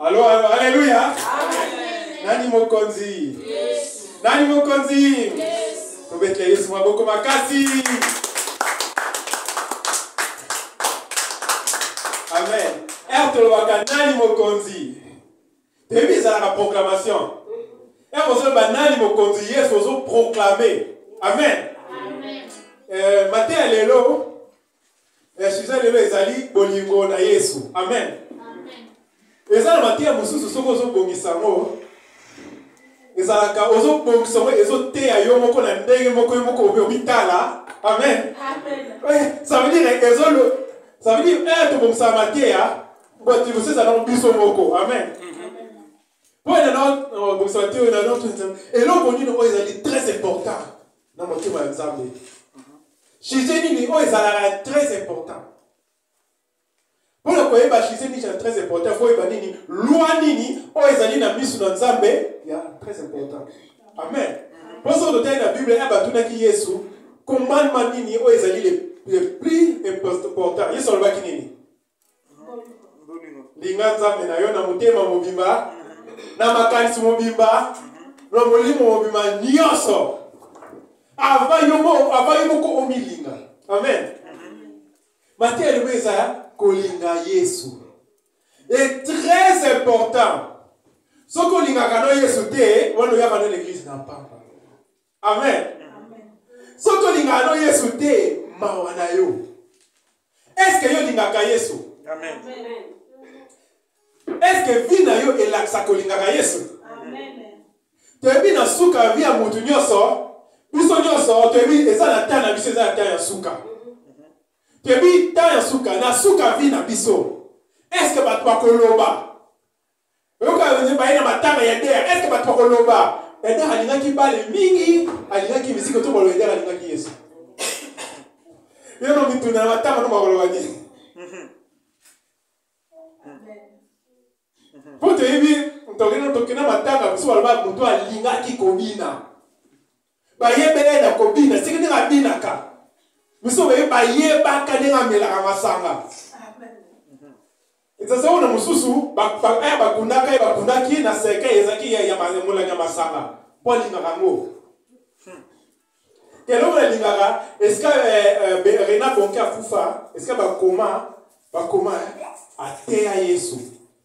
Alo, alo, aleluya. Nani mokonzi? Nani mokonzi? Tobetela Yesu maboko makasi. Amen. Ere eh, tolobaka nani mokonzi? Toyebi ezalaka proclamation. Ere eh, ozoloba nani mokonzi? Yesu ozoproclame. Amen. Amen. Eh, mateya lelo ya suza lelo ezali bolingo na yesu amen eza na mateya mosusu soki ozobongisa yango ezalaka ozobongisa yango ezoteya yo moko na ndenge moko yo moko obitala amen eh, ça veut dire ezolo ça veut dire eh tobongisa mateya botibusi ezalaka biso moko amen mpo ena nabongisa bate oyo na eloko nini oyo ezali très important na motema ya nzambe sujet nini oyo ezalaka très important mpo na koyeba sujet nini ya très important fo oyeba nini lwa nini oyo ezali na miso na nzambe ya très important amen mpo soki totali na bible ya batunaki yesu commandement nini oyo ezali le plus important yesu alobaki nini linga nzambe na yo na motema mobimba na makanisi mobimba na molimo mobimba nyonso ava yo moko omilinga amen mateya elimo eza kolinga yesu est très important soki olingaka na yesu te wana oyaka na l'église na mpamba amen soki tolingaka no yesu te mawa na yo eske yo olingaka yesu amen eske vi na yo elakisa kolingaka yesu toyebi na suka ya vi ya motu nyonso biso nyonso toyebi eza na temps na biso eza na temps ya suka toyebi temps ya suka na suka vi na biso eske bato bakoloba oyoka wenye baye na matanga ya eder eske bato bakoloba eder alingaki bale mingi alingaki miziki to bolo eder alingaki yesu yono mituna na matanga no bakoloba nini mpo toyebi tokende tokenda matanga biso baloba moto alingaki kobina bayebela ye na kobina seke ndenge abinaka biso baye bayebaka ndenge amelaka masanga ezazaki wana mosusu eh, bakundaka ye bakundaki na seke ezalaki molangi ya masanga mpo alingaka yango eloko nalingaka esika eh, eh, rena bonke akufa esika bakoma bakoma ateya yesu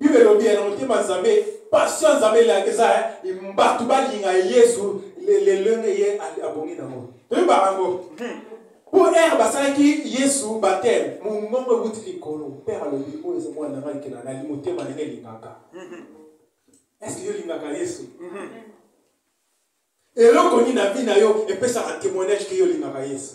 Bible elobi na motema Nzambe, passion ya Nzambe elaka eza bato balinga Yesu lelenge ye abongi nango. Toyebaka yango. Hmm. Mpo ere basalaki Yesu bateme, mongongo euti likolo, Père alobi oyo eza mwana na ngai ekela nali motema ndenge elingaka. Hmm. Eske yo olingaka Yesu? Hmm. Eloko nini na vie na yo epesaka témoignage ke yo olingaka Yesu?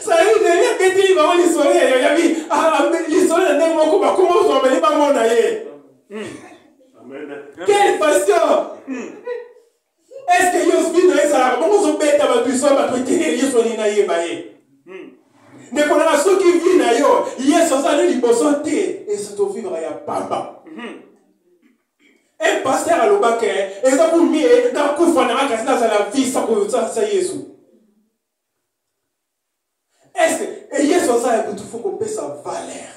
sali ndenge abeteli bango lisolo ya yayabi lisolo na ndenge moko bakoma ozwa bali bamona ye quelle passion est ce que yo sbi na ezalaka bongo ozobeta bato iso bato eteleli yesu alingi nayeba ye ndeko nanga soki vi na yo yesu azali liboso te esotovivaka ya pamba Un pasteur aloba que eza pour mieux na kufa na kasi na zala vie sans ko sa sa Yesu. Est-ce que et Yesu aza ya butu faut ko pesa valeur.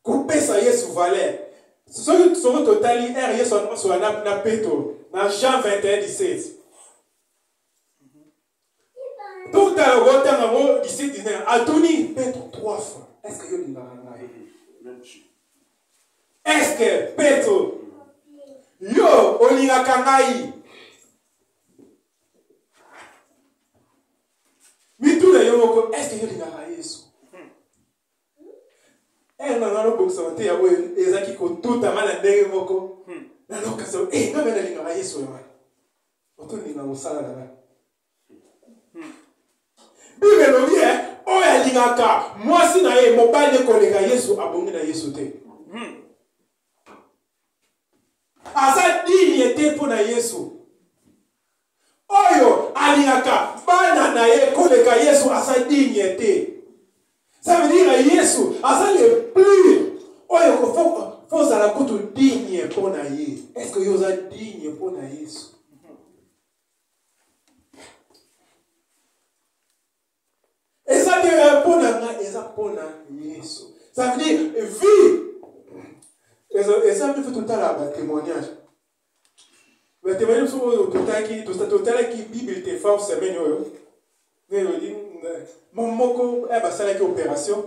Ko pesa Yesu valeur. Soki soki totali er Yesu na na Petro na Jean 21 17. totala kotanga ngo disciple dina atuni petro trois fois est ce que yo olingaka ngai est ce que petro yo olingaka ngai mituna yo moko est ce que yo olingaka yesu ere na ngai nobongisama te yango ezalaki kotutama na ndenge moko hmm. nalokasa e eh, ngai mpe nalingaka yesu oyo wana otondima mosala na ngai bible elobi e oyo alingaka mwasi na ye mobali ekoleka yesu abongi na yesu te hmm. aza digne te mpo na yesu oyo alingaka bana na ye koleka yesu aza digne te Ça veut dire Yesu aza le plus oyo faut ozala kutu digne mpo na ye. Est-ce que yo oza digne mpo na Yesu? eza te mpo na ngai eza mpo na yesu ça veut dire vie eza mpe totala batémoignage batemani mosusu oyo totalaki totalaki bible te fort semaine oyo nayodi mama moko ya eh, basalaki opération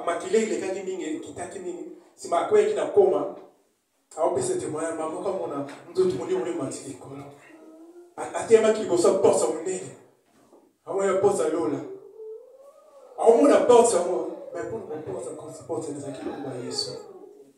makila elekaki mingi ekitaki mingi nsima akweyaki na koma aopesa temoya mama moko amona nzoto molimo emati likolo ateyamaki liboso porte ya monene amoya porte ya lola aomona porte yango mais mpo na porte porte ezalaki longo ya yesu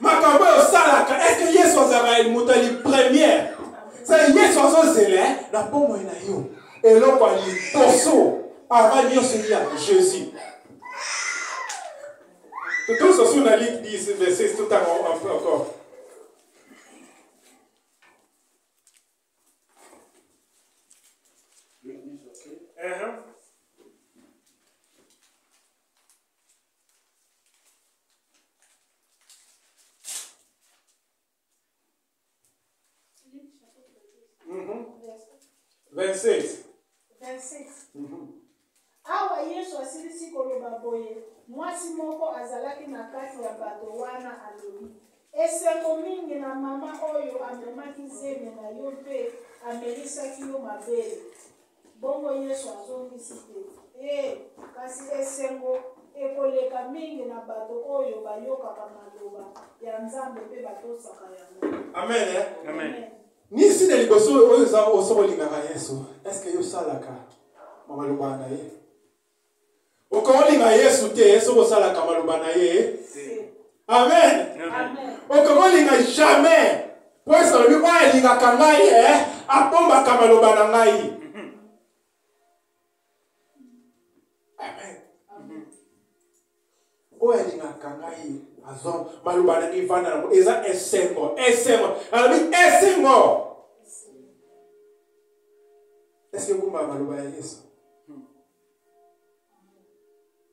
makambo oyo osalaka eske yesu azalaka moto ya lipremiere sa yesu azozela eh, na bomoi na yo eloko ya liboso avant nyonso ya jésus totosa sur la ligne 10 verset tout encore Uh-huh. 26. 26. Mm -hmm. awa yesu asilisi koloba boye mwasi moko azalaki na kati ya bato wana alobi esengo mingi na mama oyo amemaki zemi na yo mpe amelisaki yo mabele Bongo Yesu azongisi te, Ee, kasi esengo ekoleka mingi na bato oyo bayokaka maloba ya Nzambe mpe batosaka yango. Amen. Eh? Amen. Amen. nisi na liboso oyo oza oso olingaka yesu estce yo osalaka maloba na ye okokolinga yesu te soki osalaka maloba na ye amen okokolinga jamais mpo yesu alobi oyo alingaka ngai e eh, abombaka maloba na ngai oyo alingaka ngai azo maloba na mivanda yango eza esengo esengo alobi esengo eske ekumba maloba ya yesu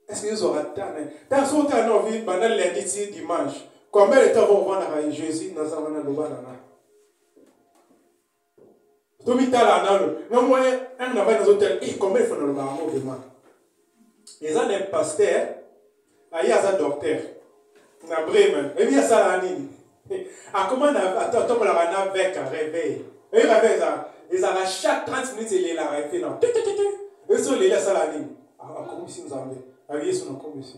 eske yesu akatana ntango soki otala na ovi banda lundi ti dimanche combien de temps ovandaka jésus naza wana loba na ngai tomitala nano na mwa ane na bai nazotala e koma efo na lobaka ngo vraimen eza na paster aye aza docteur na bremen ebi asalaka nini akoma na atokolaka na veka reveil ebi reve ezalaka ezalaka chaque 30 minutes elelaka efe na esoleli asalaka nini akomisi nzambe abi yesu nakomisi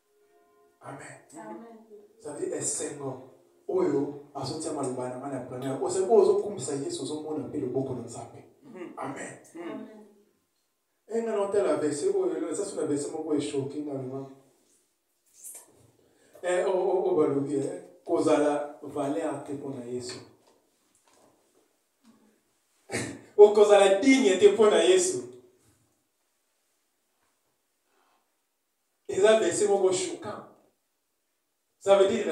amen ça veut dire esengo oyo azotia maloba na ngai na première ose oyo ozokumisa yesu ozomona mpe loboko na nzambe hmm. amen hmm. enga na otala verse oyo eza so na verse moko eshoki nga lima eh, oyo oh, oh, oh, balobi eh, kozala valeur te mpo na yesu okozala digne te mpo na yesu eza verse moko choquant ça veut dire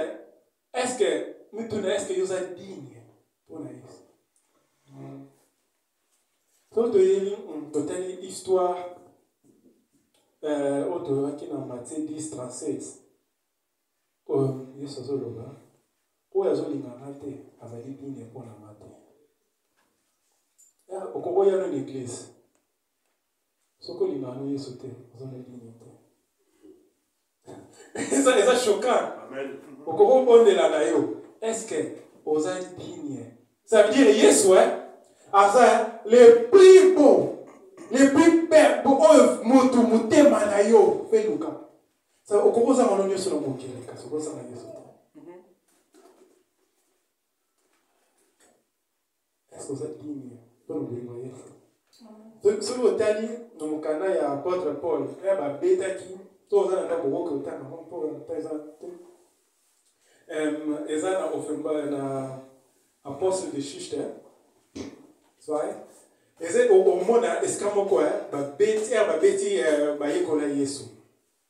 est ce que mituna est ce que yo oza digne mpo na yesu soki toyebi totali histoire oyo toyokaki na matie 10 36 oyo yesu azoloba oyo azolinga nga te azali digne mpo na nga te okokoya no na eglise soki olingaka no yesu te oza na elimo te eza eza choquant okoki obondela na yo estce oza digne ça veut dire yesu e aza le plus beau le plus belle oyo motu motema na yo mpe luka okoki ozanga no nyonso na mokili kasi okozanga yesu eske oza digne mpo na bolingo ya yesu soki otali na mokanda ya apotre paul ya eh, babetaki to oza na ndako okoki kotanga yango mpo ta eza te eza na ofemba na apostle de shiste soye eza omona esika moko eh, babeti ya eh, babeti bayekola yesu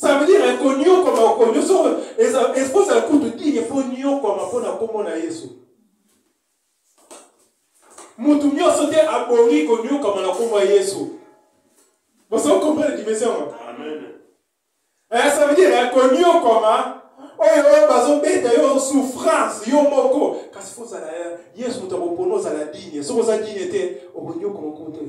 Ça veut dire konyokwama okonyo soko ekozala kutu digne mpo nyokwama mpo na nkombo na yesu motu nyonso te abongi konyokwama na nkombo ya yesu bosoki comprendre dimension yango eh, ça veut dire konyokwama oyo oyo bazobeta yo souffrance yo moko kasi fo ozala yesu moto akopona ozala digne soki oza digne te okonyokwama kutu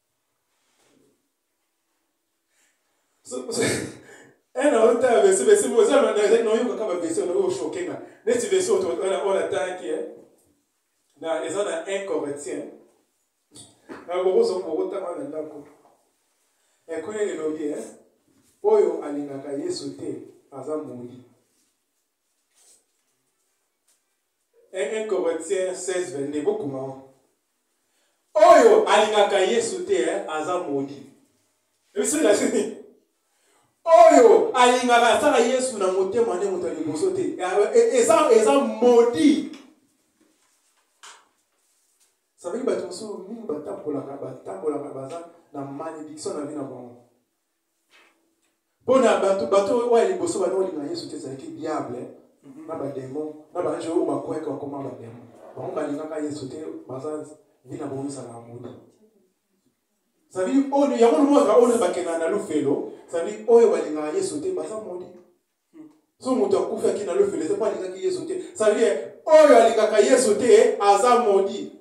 ena eh, ota ya vese vese oza nayoka kaka vese oyo oshoke nga neti vese oyo natalaki eh. na eza na un coretien bokotanga na ndako ekole elobi eh, oyo alingaka yesu te aza moyi 1 Corinthiens 16, 22, bokoma wana. Oyo alingaka Yesu te eh, aza moni. Ebiso ya sini. Oyo alingaka asala Yesu na motema nde moto ya liboso te. Eh, eh, eza eza modi. Sabeli bato mosusu mingi batambolaka batambolaka baza na malédiction na vie na bango. mpo na bato bato oyo ya liboso bana olinga yesu te ezalaki diable na bademo na baange oyo bakwete bakoma bademo bango balingaka yesu te baza vi na bango ezala ya moto sabi oyo yango lomozala oyo bakendaka na lofelo sabi oyo balingaka yesu te baza moli so moto akufaki na lofelo eza mpo alingaki yesu te sabi oyo alingaka yesu te aza moli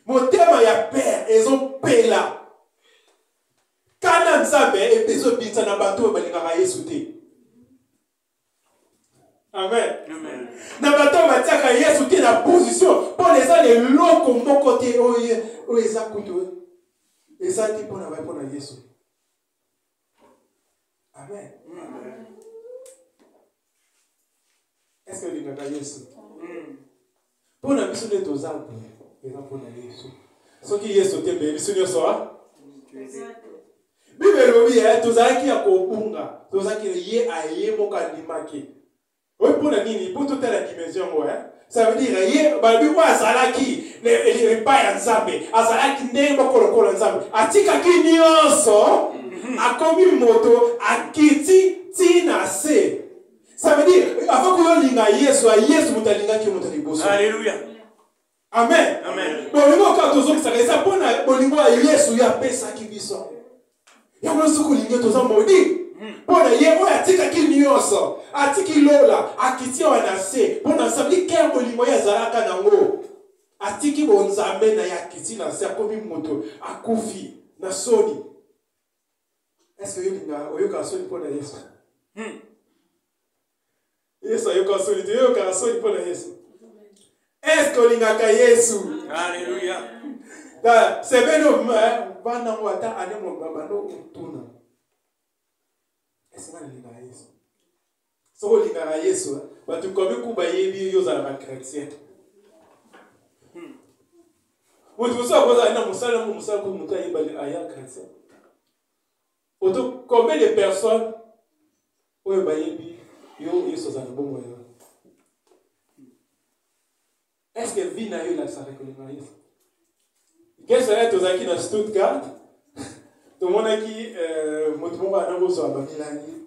motema ya père ezopela kana nzambe ezobinza na bato oyo balingaka yesu te amen na bato oyo batiaka yesu te na position mpona eza na eloko moko te oyo eza kutu eza te mpona bai mpona yesu amen eske olingaka yesu mpo na biso nde toza te eza mpo na yesu soki yesu te mpe biso nyonso bible elobi eh, tozalaki ya kobunga tozalaki ye aye moko andimaki oyo mpo na nini mpo totala dimension yango eh? ça veut dire ye balobi oyo azalaki epai ya nzambe azalaki ndenge moko lokola nzambe atikaki nyonso mhm. akomi moto akiti ntina se ça veut dire avant koyolinga yesu yesu moto alingaki moto liboso alleluya amen bolingo kaka tozokisaka eza mpo na bolingo ya yesu ye apesaki biso yango yango soki olingi toza modi hmm. mpo na ye oyo atikaki nyonso atiki lola akiti awa na se mpo na nsambi ke bolingo ye azalaka nango atiki bonzambe na ye akiti na se akomi moto akufi na soni eske oyolinga oyokaka soni mpo na yesu hmm. yesu ayoka soni te yoyokaka soni mpo na yesu eske olingaka yesu aleluya sebene banda yango ata ane mobabanda otuna esenga nalingaka yesu soki olingaka yesu eh, bato komi ku bayebi yo ozalaka chrétien hmm. moto mosusu akozala na mosala yango mosala mpo moto ayebali aya chrétien Oto combien de personnes oyo bayebi yo Yesu aza na bomoi yo? Est-ce que vie na yo elakisaka kolinga Yesu? Quel salaire tozalaki na Stuttgart tomonaki euh, moto moko ana kozwa bamilangi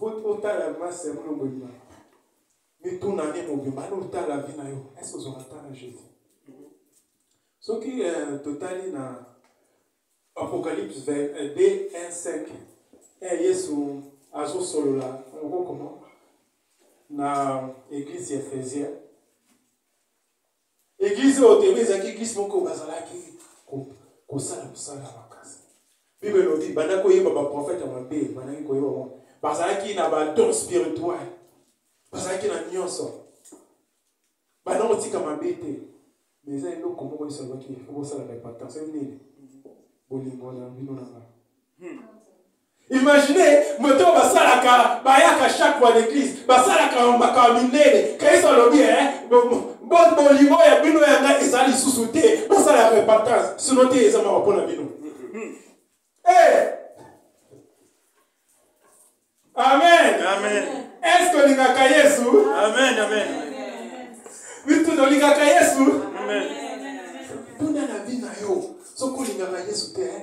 otala masi ya molongo ebima mituna nde mobimba ane otala vi na yo ese ozwaka ta na jésus soki euh, totali na apocalypse 2 5 eh, yesu azosolola okokoma na église ya ephésienne Eglise oyo tebe ezalaki eglise moko bazalaki kosala mosala ya makasi bible elobi banda koyeba baprofete ya mabe bandaki koyeba bango bazalaki na badon spirituel bazalaki na nyonso banda kotika mabe te ma eza eloko moko yesu alobaki fo bosala repentance nini bolingo na bino na ngai hmm. Imaginez, moto oyo basalaka bayaka chaque fois l'église basalaka makambo minene kristo alobi eh, bolingo ya bino ya ngai eza lisusu te bosala ya repentance sino te eza mawa mpo na bino hmm. eh! amen amen est-ce que olingaka yesu amen amen bitu tolingaka yesu amen tuna na vie na yo soki olingaka yesu te eh?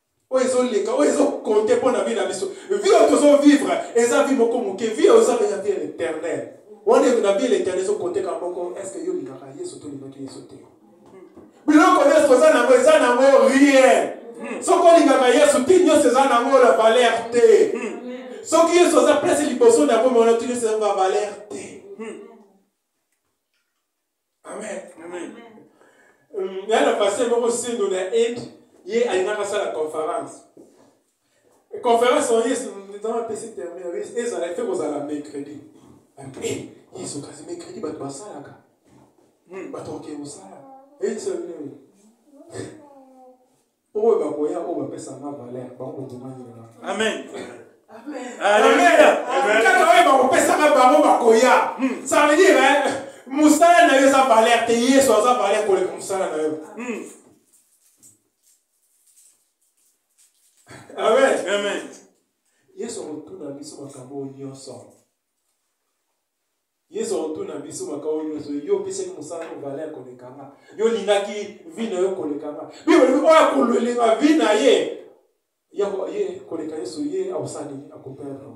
oyo ezoleka oyo ezokonte mpo na vie na biso vie oyo tozovivre eza vie moko moke vie oyo eza ya vie éternel wana na vie éternel ezokonte kaka moko est ce que yo olingaka yesu to olingaki yesu te biloko nyonso toza nango eza nango rien soki olingaka yesu ti nyonso eza nango la valeur te soki yesu aza place liboso na yango mona ti nyonso eza na valeur te amen amen nga na paster moko sendo na inde ye alingaka asala conférence conférence oyo nzambe apesi terme oyo ezala efe kozala mercredi yesu kasi mercredi bato basalaka bato bakee kosala eyebisa bino oyo bakoya oyo bapesanga valeur bango bokomanyola amen oyo bakopesaka bango bakoya hmm. ça veut dire eh, mosala na yo eza valeur te yesu aza valeur koleka mosala na yo hmm. amen yesu akotuna biso makambo oyo nyonso yesu akotuna biso makao nyonso yo opesaki mosala no valeur koleka nga yo olingaki vi na yo koleka nga bibolobi oyo akolwelenga vi na ye ye koleka yesu ye akosala nini akoperdre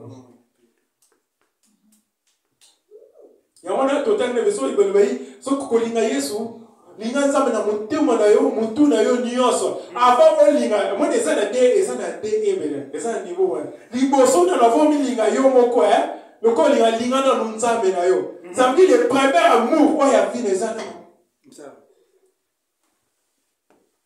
yango wana totali na biso libalobai soki kolinga yesu linga nzambe na motema na yo motu na yo nyonso avant olinga moni eza na de eza na de ebele eza na niveau wana liboso na lavo omilinga yo moko e lokola olinga linga nanu nzambe na yo mhm. zambi le premier amour oyo ya vile eza na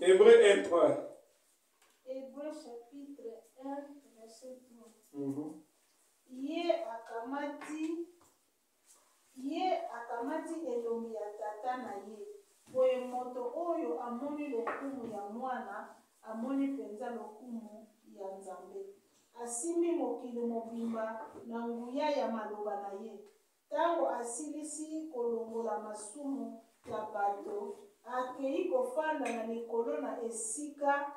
Hébreu 1, 3. Hébreu chapitre 1, verset 3. Mm -hmm. Ye akamati ye akamati elongi ya tata na ye boye moto oyo amoni lokumu ya mwana amoni mpenza lokumu ya nzambe asimbi mokili mobimba na nguya ya maloba na ye Tango asilisi kolongola masumu ya bato, akei kofanda na likolo na esika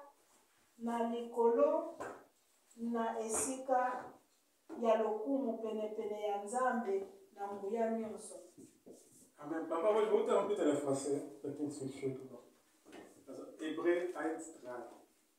na likolo na esika ya lokumu penepene ya Nzambe na nguya nyonso. Amen papa moi bota na pita na français peut-être c'est chaud tout bon. Hébreu 1 3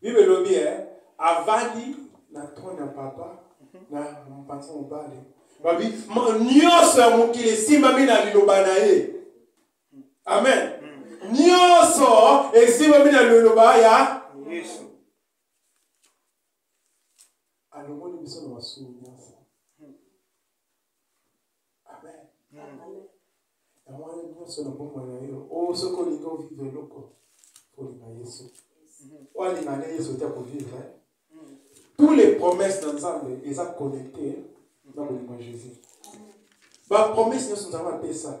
Bible elobi eh, avandi na trone ya papa na mpanza mobali babi nyonso ya mokili esimbami na liloba na ye amen nyonso esimbami na liloba ya yesu alongoli biso na masumu nyonso yango wana nyonso na bomoi na yo o oh, soki olingi ovive eloko olinga yesu oyo alinga nde yesu te akovivre tous les promesses na nzambe eza connecte na bolingo ya jésus bapromese nyonso nzambe apesa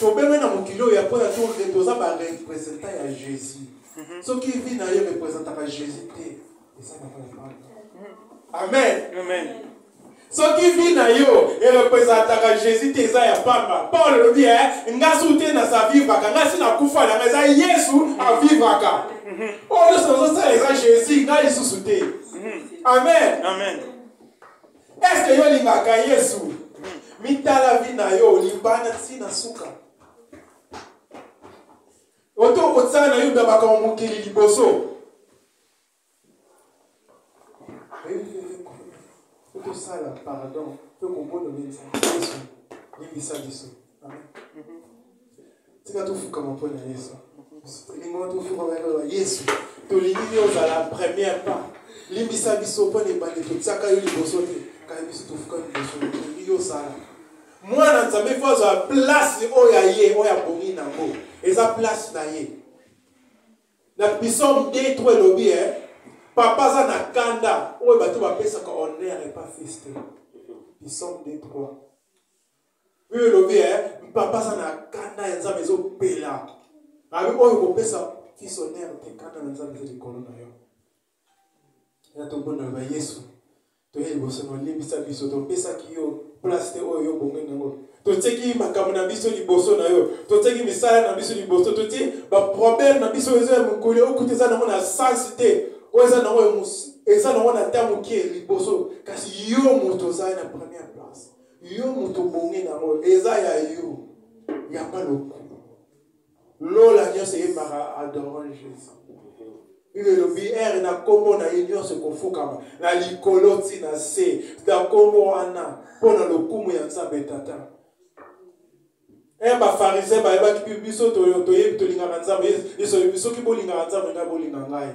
tobengani na mokili oyo ya mpo ya toke toza barepresentant ya jésus mhm. soki vi na yo representaka jésus te eza babalabala amen amen soki vi na yo erepresentaka jésus te eza ya pamba paul olobi e eh, nga su te na sa vivraka nga si nakufa na nga eza yesu avivraka mhm. oyo nyonso nazosala eza jésus nga lisusu te mhm. amen amen Est-ce que yo lingaka Yesu? Mitala vie na yo libana ti na suka. Oto kotsala na yo ndabaka wa mokili liboso. Otosala pardon mpe kobono nini sa biso limbisa biso. tika tofukama mpo na yesu elingo tofukama na yesu tolingi yo ozala première pas limbisa biso mpo na ebande totiaka yo liboso te kaka biso tofuka liboso tolingi yo osala mwana nzambe mpo azwa place oyo ya ye oyo abongi na yango eza place na ye na pisome 2 3 elobi e papa aza na kanda oyo bato bapesaka honere epa fils te pisome 2 3 oyo elobi e eh, papa aza na kanda ya nzambe ezopela abi oyo kopesa fisonere te kanda na nzambe eza likolo na yo ya tobonaka yesu toye liboso na olimbisa biso topesaki yo place te oyo yo bongai na yango totieki makambo na biso liboso na yo totieki misala na biso liboso totie baproblème na biso eza ya mokoli okuta eza nango na sansi te oyo eza nango eza nango na ta moke liboso kasi yo moto ozali na première yo moto obongi nango eza ya yo yamba lokumu lola nyonso eyembaka adorant jésus bino elobi ere na nkombo na ye nyonso ekofukama na likolo ti na se na nkombo wana mpo na lokumu ya nzambe tata e eh, bafarisien bayebaki biso toyebi tolingaka nzambe yesu soki bolingaka nzambe ngai bolinga ngai